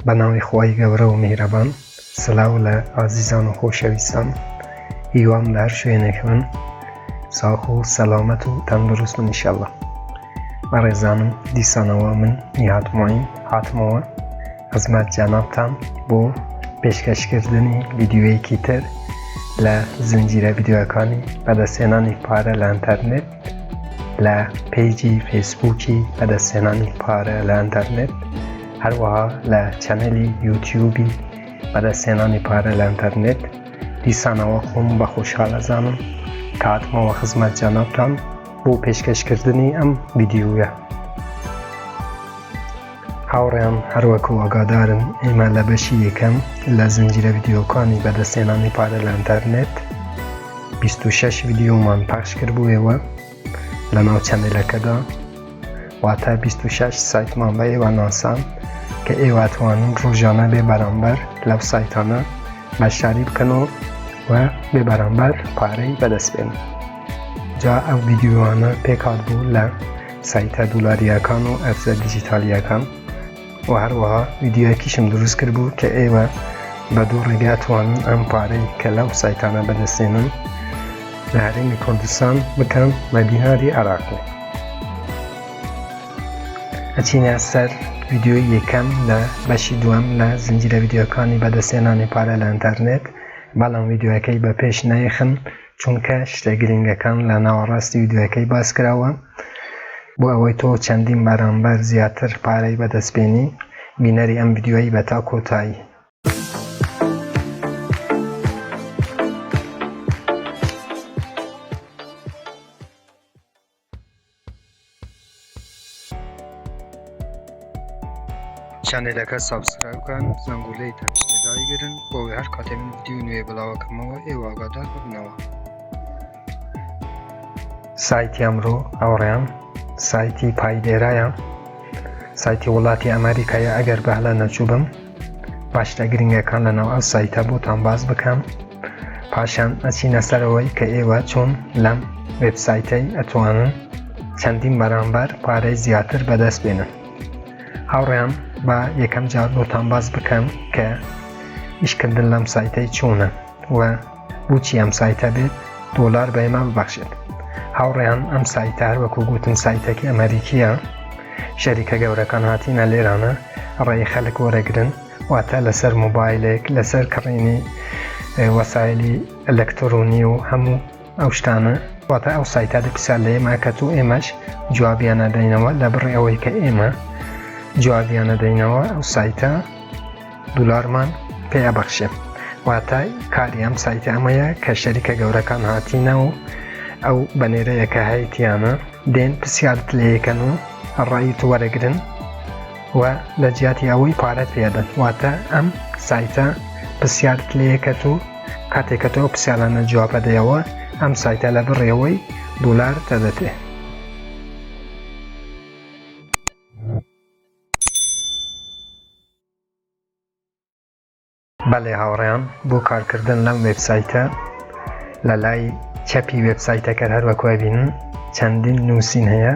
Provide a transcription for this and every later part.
بە ناوی خوای گەورە و میهرەبان سلاو لە ئازیزان و خۆشەویستان هیوام لە هەر شوێنێک بن ساخ و سەلامەت و تەندروست بن ئیشەڵا بەڕێزانم دیسانەوە من نیهات معین هاتمەوە خزمەت جەنابتان بۆ پێشکەشکردنی ڤیدیوەیەکی تر لە زنجیرە ڤیدیوەکانی بەدەستێنانی پارە لە ئەتەرنێت لە پێیجی فەیسبووکی بەدەستێنانی پارە لە ئەتەرنێت هەروەها لە چەنەلی یوتیوبی بەدەستهێنانی پارە لە ئەنتەرنێت دیسانەوە خۆم بە خۆشحال ئەزانم کە هاتمەوە خزمەت جەنابتان بۆ پێشکەشکردنی ئەم ڤیدیۆیە هاوڕێیان هەروەک و ئاگادارن ئێمە لە بەشی یەکەم لە زنجیرە ڤیدیۆکانی بەدەستێنانی پارە لە ئەنتەرنێت 26 ڤیدیۆمان پاش کردبووەوە لەناو چەنێلەکەدا واتە بیست و شەش سایتمان بە ئێوە ناسام کە ئێوە توانن ڕۆژانە بێ بەرامبەر لەو سایتانە بەشداری بکەن و و بێ بەرامبەر پارەی بەدەست بێن جا ئەو ویددیوانە پێکات بوو لە سایتە دولاریەکان و ئەفزە دیجیتالیەکان وە هەروەها ڤیدیۆیەکیشم دروست کرد بوو کە ئێوە بە دوو ڕێگا توانن ئەم پارەی کە لەو سایتانە بەدەستێنن لە هەرێمی کوردستان بکەن بە دیناری عراقی ئەچینە سەر ڤیددیوی یەکەم لە بەشی دووەم لە زنجیرە ڤیددیوەکانی بەدەستێنانی پارە لە ئەتەرنێت بەڵام ڤیددیوەکەی بە پێش نایخن چونکە شتە گرنگەکان لە ناوەڕاستی ویدیۆیەکەی باسکراوە بۆ ئەوەی تۆ چەندین بەرامبەر زیاتر پارەی بەدەست بێنی بینەری ئەم ویدیۆی بە تا کۆتایی چەنێلەکە سابسکرایب کەن زەنگولەی تەنیشتە دایگرن بۆ ئەوەی هەر کاتێ من ڤیدیۆی نوێ بڵاوەکەمەوە ئێوە ئاگادار ببنەوە سایتی ئەمڕۆ ئەوڕێم سایتی پایدێرایە سایتی وڵاتی ئەمریکایە ئەگەر بەهلە نەچوو بم باشتە گرنگەکان لە ناو ئەو سایتە بۆتان باز بکەم پاشان ئەچینە سەرەوەی کە ئێوە چۆن لەم وبسایتەی ئەتوانن چەندین بەرامبەر پارەی زیاتر بەدەست بێنن هاوڕیان بە یەکەم جار بۆتان باز بکەم کە ئیشکردن لەم سایتەی چۆنە و بوچی ئەم سایتە بێ دۆلار بە ئێمە ببەخشێت هاوڕێیان ئەم سایتە هەروەکو گوتم سایتەکی ئەمریکیە شەریکە گەورەکان هاتینە لێرانە ڕێی خەلک وەرەگرن واتە لەسەر موبایلێک لەسەر کڕینی وەسایلی ئەلەکترۆنی و هەموو ئەو شتانە واتە ئەو سایتا دەپیسا لە ئێمە کە تو ئێمەش جوابیانە دەینەوە لە بڕێ ئەوەی کە ئێمە جوابیانە دەینەوە ئەو سایتە دولارمان پێ ئەبەخشێ واتای کاری ئەم سایتە ئەمەیە کە شەریکە گەورەکان هاتینە و ئەو بەنێرەیەکە هەیتیانە دێن پرسیارت لەیەکەن و ڕای تو وەرەگرن و لە جیاتی ئەوەی پارەت پێدەن واتە ئەم سایتە پرسیارت لەیەکەت و کاتێکە تۆ پرسیارانە جوابە دەیەوە ئەم سایتە لە بڕێەوەی دولار دەدەتێ بەڵێ هاوڕێیان بۆ کارکردن لەم وێبسایتە لە لای چەپی وێبسایتەکە هەر وەکوای بینن چەندین نووسین هەیە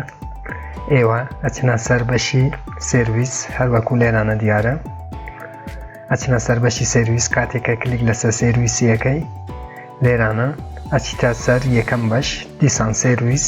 ئێوە ئەچنە سەر بەشی سرویس هەروەکو لێرانە دیارە ئەچنە سەر بەشی سرویس کاتێکە کلیک لەسەر سرویسیەکەی لێرانە ئەچیتە سەر یەکەم بەش دیسان سرویس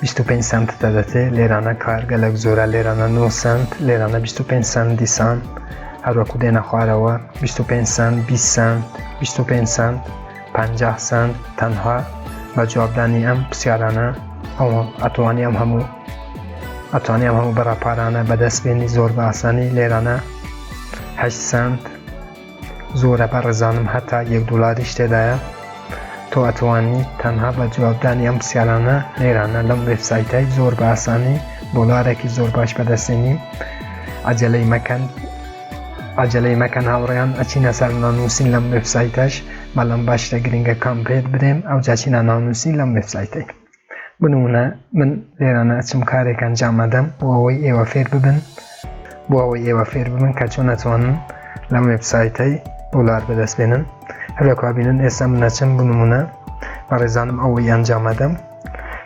بیست و پێنج سەنت دەدەتێ لێرانە کار گەلک زۆرە لێرانە نۆ سەنت لێرانە بیست و پێنج سەنت دیسان هەروەکو دێنە خوارەوە بیست و پێنج سەنت بیست سەنت بیست و پێنج سەنت پەنجاه سەنت تەنها بە جوابدانی ئەم پرسیارانە ئەوە ئەتوانی ئەم هەموو ئەتوانی ئەم هەموو بەڕاپارانە بەدەست بێنی زۆر بە ئاسانی لێرانە هەشت سەنت زۆرە بەڕێزانم هەتا یەک دۆلاریش تێدایە تۆ ئەتوانی تەنها بە جوابدانی ئەم پرسیارانە لێرانە لەم وێبسایتای زۆر بە ئاسانی دۆلارێکی زۆر باش بەدەستێنی عجلەی مەکەن عجلەی مەکەن هاوڕیان ئەچینە سەر نانووسین لەم وێبسایتەش بەڵام باشتە گرنگەکان بێت برێن ئەو جاچینە نانووسین لەم وێبسایتەی بنمونە من لێرانە ئەچم کارێک ئەنجام ئەدەم بۆ ئەوەی ئێوە فێر ببن بۆ ئەوەی ئێوە فێر ببن کە چۆن ئەتوانن لەم وێبسایتەی دۆلار بەدەست بێنن هەروەکوا بینن ئێستا من ئەچم بنمونە بەڕێزانم ئەوەی ئەنجام ئەدەم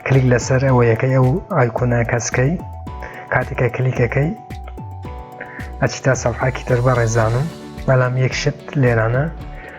کلیک لەسەر ئەوەیەکەی ئەو ئایکۆنە کەسکەی کاتێکە کلیکەکەی ئەچیتا سەفحاکی تر بەڕێزانم بەڵام یەک شت لێرانە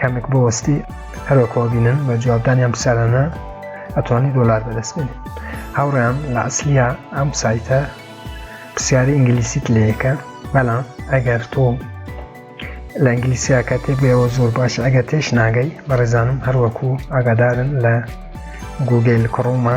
کەمێک بۆ وەستی هەروەکەوە بینن بە جوابدانیان پرسیارانە ئەتوانی دۆلار بەدەست بێنی هاوڕیان لە ئەسلیا ئەم سایتە پرسیاری ئینگلیسیت لەیەکە بەڵام ئەگەر تۆ لە ئینگلیسیاکە تێبێەوە زۆر باش ئەگەر تێش ناگەی بەڕێزانم هەروەکو ئاگادارن لە گوگل کڕۆمە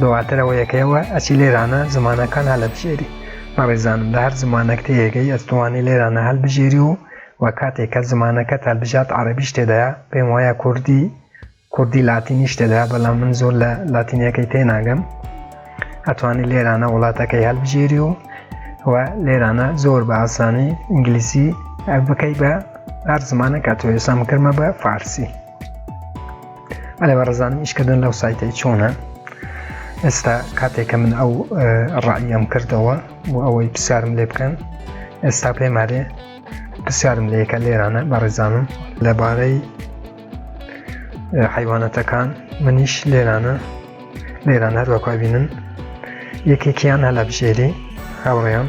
دواتر ئەوە یەکەیەوە ئەچی لێرانە زمانەکان هەلەبژێری بەڕێزانم لە هەر زمانەک تێیەگەی ئەتوانی لێرانە هەلبژێری و و کاتێک کە زمانەکەت هەلبژارد عەرەبیش تێدایە پێم وایە کوردی کوردی لاتینیش تێدا بەڵام من زۆر لە لاتینیەکەی تێناگەم ئەتوانی لێرانە وڵاتەکەی هەلبژێری و و لێرانە زۆر بە ئاسانی ئینگلیسی بکەی بە هەر زمانە کاتۆێسام کردمە بە فارسی ئەێ بەڕزان ئیشکردن لەو سایتەی چۆنە ئێستا کاتێکە من ئەو ڕعیم کردەوە بۆ ئەوەی پرسیارم لێ بکەن ئێستا پێمارێ پرسیارم لەیەکە لێرانە بەڕێزانم لەبارەی حیوانەتەکان منیش لێرانە لێران هەروەکوبینن یەکێکیان هەلا بژێری هاوڕێیان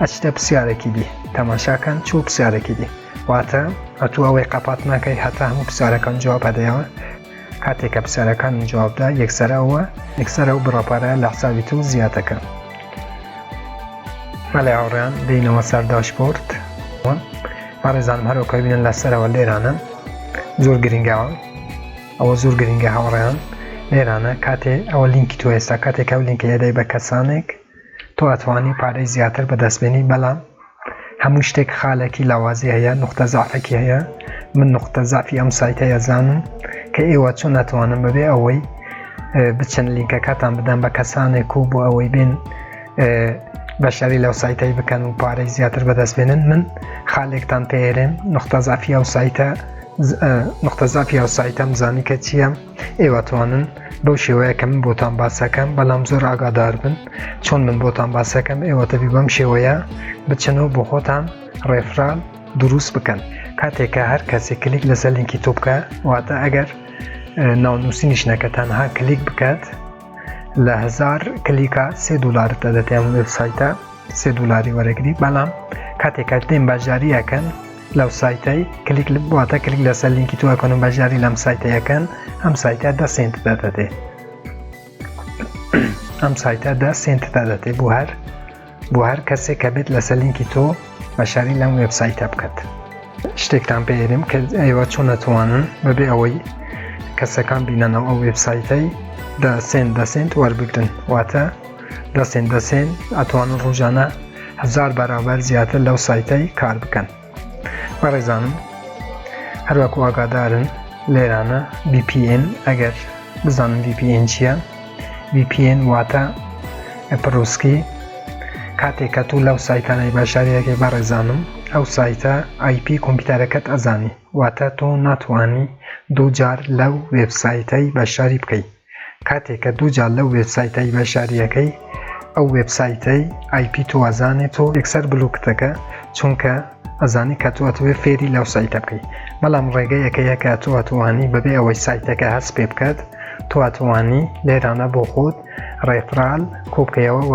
ئەچتە پرسیارێکی دی تەماشاکەن چوو پرسیارێکی دی واتە ئەتو ئەوەی قەپات ناکەی هەتا هەموو پرسیارەکان جواب هەدەیەوە کاتێک کە پرسیارەکان جوابدا یەکسەر ئەوە یەکسەر ئەو بڕەپارە لە حسابی تو زیاتەکە مەلای هاوڕیان دینەوە سەر داشپۆرت بەڕێزان هەرۆکە بینن لەسەرەوە لێرانە زۆر گرنگەوە ئەوە زۆر گرنگە هاوڕیان لێرانە کاتێ ئەوە لینکی تو ئێستا کاتێک ئەو لینکە هێدای بە کەسانێک تۆ ئەتوانی پارەی زیاتر بەدەست بێنی بەلام هەموو شتێک خالەکی لاوازی هەیە نوختە زەعفەکی هەیە من نوختە زەعفی ئەم سایتە یەزانم کە ئێوە چۆن ناتوانم بەبێ ئەوەی بچن لینکەکەتان بدەن بە کەسانێک و بۆ ئەوەی بێن بەشداری لەو سایتەی بکەن و پارەی زیاتر بەدەست بێنن من خالێکتان پێێرێن نوختە زافی ئەو سایتە نوختە زافی ئەو سایتەم زانی کە چییە ئێواتوانن بەو شێوەیە کە من بۆتان باسەکەم بەڵام زۆر ئاگادار بن چۆن من بۆتان باسەکەم ئێوە تەبی بەم شێوەیە بچنەوە بۆ خۆتان ڕێفران دروست بکەن کاتێکە هەر کەسێک کلیک لەسەر لینکی تۆ بکە واتە ئەگەر ناونووسینی شنەکە تەنها کلیک بکات لە هزار کلیکا سێ دلارتە دەتیان وبسایتە سێ دلاری وەرەگری بەڵام کاتێکات دێن باجاریەکەن لەو سایتەی کلیک لە بواتە کلیک لەسەر لینکی تو ئەکەن و بەژاری لەم سایتەیەکەن ئەم سایتە دە سنت دەدەێ ئەم سایتە دە سنت دەدەێ بۆ هەر بۆ هەر کەسێک کە بێت لەسەر لینکی تۆ بەشاری لەم وبسایتە بکات شتێکتان پێێرم کە ئەیوە چۆن نەتوانن بەبێ ئەوەی کەسەکان بینەنەوە ئەو وبسایتەی دە سنت دە سنت وەربگرن واتە دەستێن دەستێن ئەتوانن ڕۆژانە هزار بەرابەر زیاتر لەو سایتەی کار بکەن بەڕێزانم هەروەکو ئاگادارن لێرانە VPN ئەگەر بزانم VPN چییە VPN واتە پرۆسکی کاتێک کە تۆ لەو سایتانەی بەشارەکەی بەڕێزانم ئەو سایتە آیP کۆمپیوتەرەکەت ئەزانی واتە تۆ ناتوانانی دووجار لەو وێبسایتەی بەشداری بکەیت کاتێ کە دوو جار لەو وێبسایتەی بەشداریەکەی ئەو وێبسایتەی ئای پی تۆ ئەزانێ تۆ یەکسەر بلوکت دەکا چونکە ئەزانێ کە تۆ ئەتوێ فێری لەو سایتە بکەی بەڵام ڕێگەیەکەیە کە تۆ ئەتوانی بەبێ ئەوەی سایتەکە هەست پێ بکات تۆ ئەتوانی لێرانە بۆ خۆت ڕێفرال کۆبکەیەوە و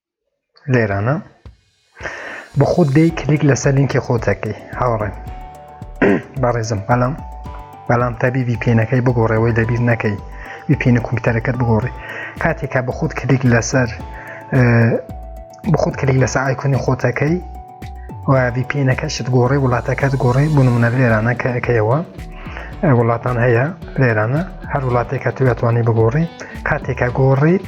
لێرانە بە خۆت دەی کلیک لەسەر لینکی خۆتەکەی هاوڕێن بەڕێزم بەڵام بەڵام تابی VPNەکەی بگۆڕەوەی دەبیر نەکەی VPN کۆمپیوتەرەکەت بگۆڕی کاتێکا بە خۆت کلیک لەسەر بە خۆت کلیک لەسەر ئایکۆنی خۆتەکەی و VPNەکەشت گۆڕی وڵاتەکەت گۆڕی بۆ نمونە لێرانە کە ئەەکەیەوە وڵاتان هەیە لێرانە هەر وڵاتێکە توێتوانی بگۆڕی کاتێکە گۆڕیت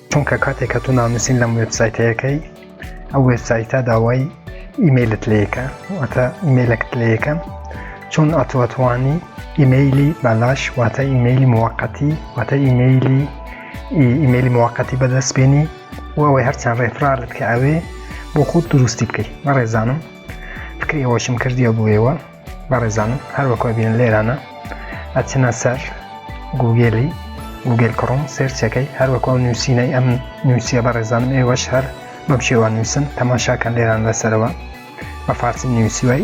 چونکە کاتێک کە تۆ ناونووسین لەم وێبسایتەیەکەی ئەو وێبسایتە داوای ئیمەیلت لەیەکە واتە ئیمەیلەکت لەیەکە چۆن ئەتوەتوانی ئیمەیلی بالاش واتە ئیمەیلی موقەتی واتە ئیمەیلی ئیمەیلی موقەتی بەدەست بێنی و ئەوەی هەرچەند ڕێفرارت کە ئەوێ بۆ خۆت دروستی بکەیت مەڕێزانم فکری ئەوەشم کردیە بۆیەوە بەڕێزانم هەروەکو ئەبینن لێرانە ئەچنە سەر گوگێلی گوگل کڕۆم سێرچەکەی هەروەکو ئەو نووسینەی ئەم نووسە بەڕێزانم ئێوەش هەر بەم شێوان نووسن تەماشاکەن لێران لەسەرەوە بە فارسی نووسیوای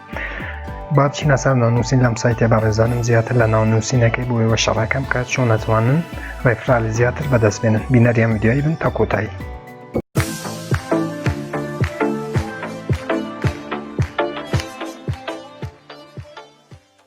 با بچینە سەر ناونووسین لەم سایتێ بە ڕێزانم زیاتر لە ناونووسینەکەی بۆ ئێوە شەڕەکەم کە چۆن نەتوانن ڕێفرالی زیاتر بەدەست بێنن بینەریان ویدیایی بن تا کۆتایی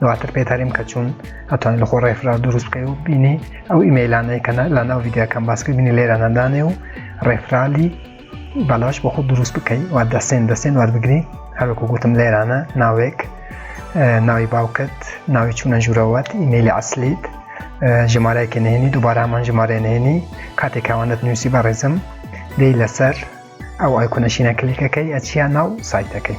دواتر پێتاریم کە چوون ئەتوانین لەخۆ ڕێفرا دروست بکەی و بینی ئەو ئیمەیلانەی کە لە ناو ویددیوکەم باسکە بینی لێرە نەدانێ و ڕێفرالی بەلاش بۆ خۆ دروست بکەی و دەستێن دەستێن وەربگری هەروەکو گوتم لێرانە ناوێک ناوی باوکت ناوی چوونە ژوورەوەت ئیمەلی ئەسلیت ژمارەیەکی نهێنی دووبارەمان ژمارە نهێنی کاتێک کاوانت نووسی بەڕێزم دەی لەسەر ئەو ئایکۆنەشینە کلیکەکەی ئەچیا ناو سایتەکەی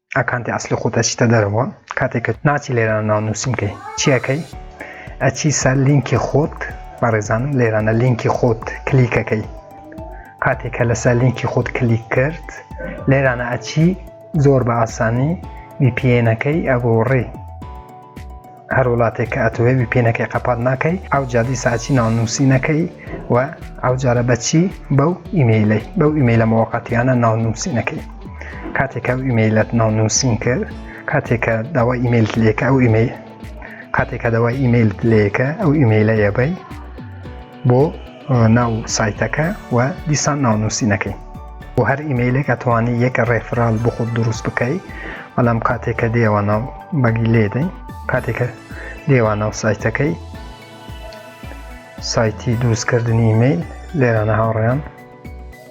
ئەکانتی ئەسلی خۆت ئەچیتە دەرەوە کاتێک کە ناچی لێرانە ناو نووسین کەی چیەکەی ئەچی سەر لینکی خۆت بەڕێزانم لێرانە لینکی خۆت کلیکەکەی کاتێک کە لەسەر لینکی خۆت کلیک کرد لێرانە ئەچی زۆر بە ئاسانی VPNەکەی ئەگۆڕێ هەر وڵاتێک کە ئەتوێ وی پێنەکەی قەپات ناکەی ئەو جادی ساچی ناونووسی نەکەی و ئەو جارە بەچی بەو ئیمەیلەی بەو ئیمەیلە مۆقەتیانە ناونووسی نەکەی کاتێکە و ئیمەیلەت ناونووسین کرد کاتێکە داوا ئیمەیل لێکە ئەو ئیمەیل کاتێکە داوای ئیمەیل لێکە ئەو ئیمەیلە ئێبەی بۆ ناو سایتەکە و دیسان ناونووسینەکەی بۆ هەر ئیمەیلێک ئەتوانی یەکە ڕێفرال بۆ خۆت دروست بکەی بەڵام کاتێکە دێوە ناو بەگی لێدەین کاتێکە دێوە ناو سایتەکەی سایتی دروستکردنی ئیمەیل لێرانە هاوڕێیان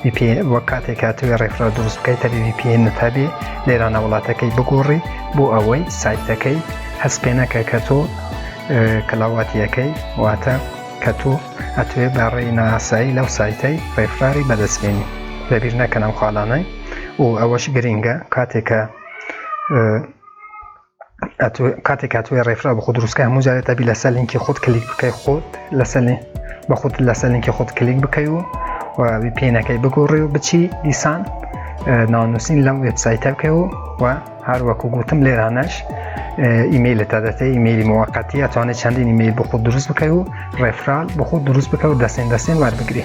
ڤی پی ئێن وەک کاتێک هاتووی ڕێکخراو دروست بکەی تەبی ڤی پی ئێن نەتابێ لێرانە وڵاتەکەی بگۆڕی بۆ ئەوەی سایتەکەی هەست پێ نەکە کە تۆ کلاواتیەکەی واتە کە تۆ ئەتوێ بە ڕێی ناسایی لەو سایتەی ڕێفراری بەدەستبێنی لەبیر نەکەنەم خاڵانەی و ئەوەش گرنگە کاتێکە ئەتوێ کاتێک کاتوێ ڕێفرا بە خۆ دروستکە هەموو جارێت تابی لەسەر لینکی خۆت کلیک بکەی خۆت لەسەر بە خۆت لەسەر لینکی خۆت کلیک بکەی و پێینەکەی بگۆڕی و بچی دیسان ناونووسین لەم وبسایتە بکەی و و هەر وەکو گوتم لێرانەش ئیممەیل تا دەتێ ئیممەلی مووەقەتی ئەتوانێت چەندین ئیممەیل بخۆ دروست بکەی و ڕێفرال بخۆ دروست بکە و دەستێن دەستێن وەربگری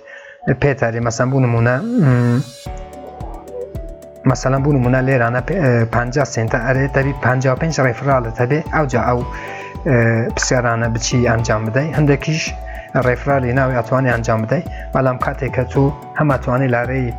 پێتاری مەسەن بوو نمونە مەسەلە بوون منە لێرانە 50 سنتە ئەرێ دەبی 55 ڕێفرالت هەبێ ئەوجا ئەو پرسیارانە بچی ئەنجام بدەی هەندێکیش ڕێفرالی ناوی ئەتوانی ئەنجام بدەیت بەڵام کاتێکە تو هەماتوانی لارەی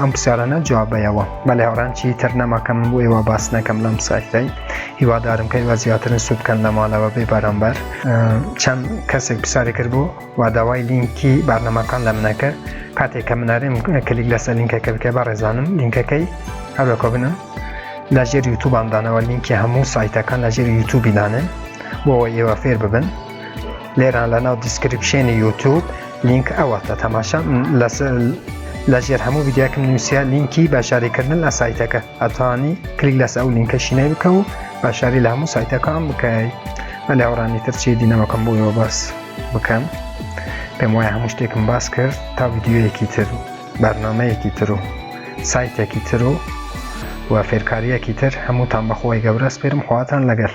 ئەم پرسیارانە جوابەیەوە بەلێ هاڕان چی تر نەماکەم بۆ ئێوە باس نەکەم لەم سایتەی هیوادارم کە ئێوە زیاترن سوود بکەن لە ماڵەوە بێ بەرامبەر چەند کەسێک پرسیاری کرد بوو و داوای لینکی بارنەماکان لە منەکە کاتێک کە منارێم کلیک لەسەر لینکەکە بکە بە ڕێزانم لینکەکەی هەروەکە بنم لە ژێر یوتوباندانەوە لینکی هەموو سایتەکان لە ژێر یوتوبی دانێن بۆەوە ئێوە فێر ببن لێران لە ناو دیسکرپشێنی یوتوب لینک ئەوەتە تەماشا لە ژێر هەموو ویددیوکم نووسیا لینکی باشاریکردن لە سایتەکە ئەتوانی کلیک لەس ئەو لینکە شینەی بکە و باشاری لە هەموو سایتەکان بکەیت بە لێوڕانی ترچی دینەوەکەم بۆیەوە بەس بکەم پێم وایە هەموو شتێکم باس کرد تا ویددیوەیەکی تر و بەرنمەیەکی تر و سایتێکی تر و و فێرکاریەکی تر هەمووتان بەخۆی گەورە سپێرم خواتان لەگەل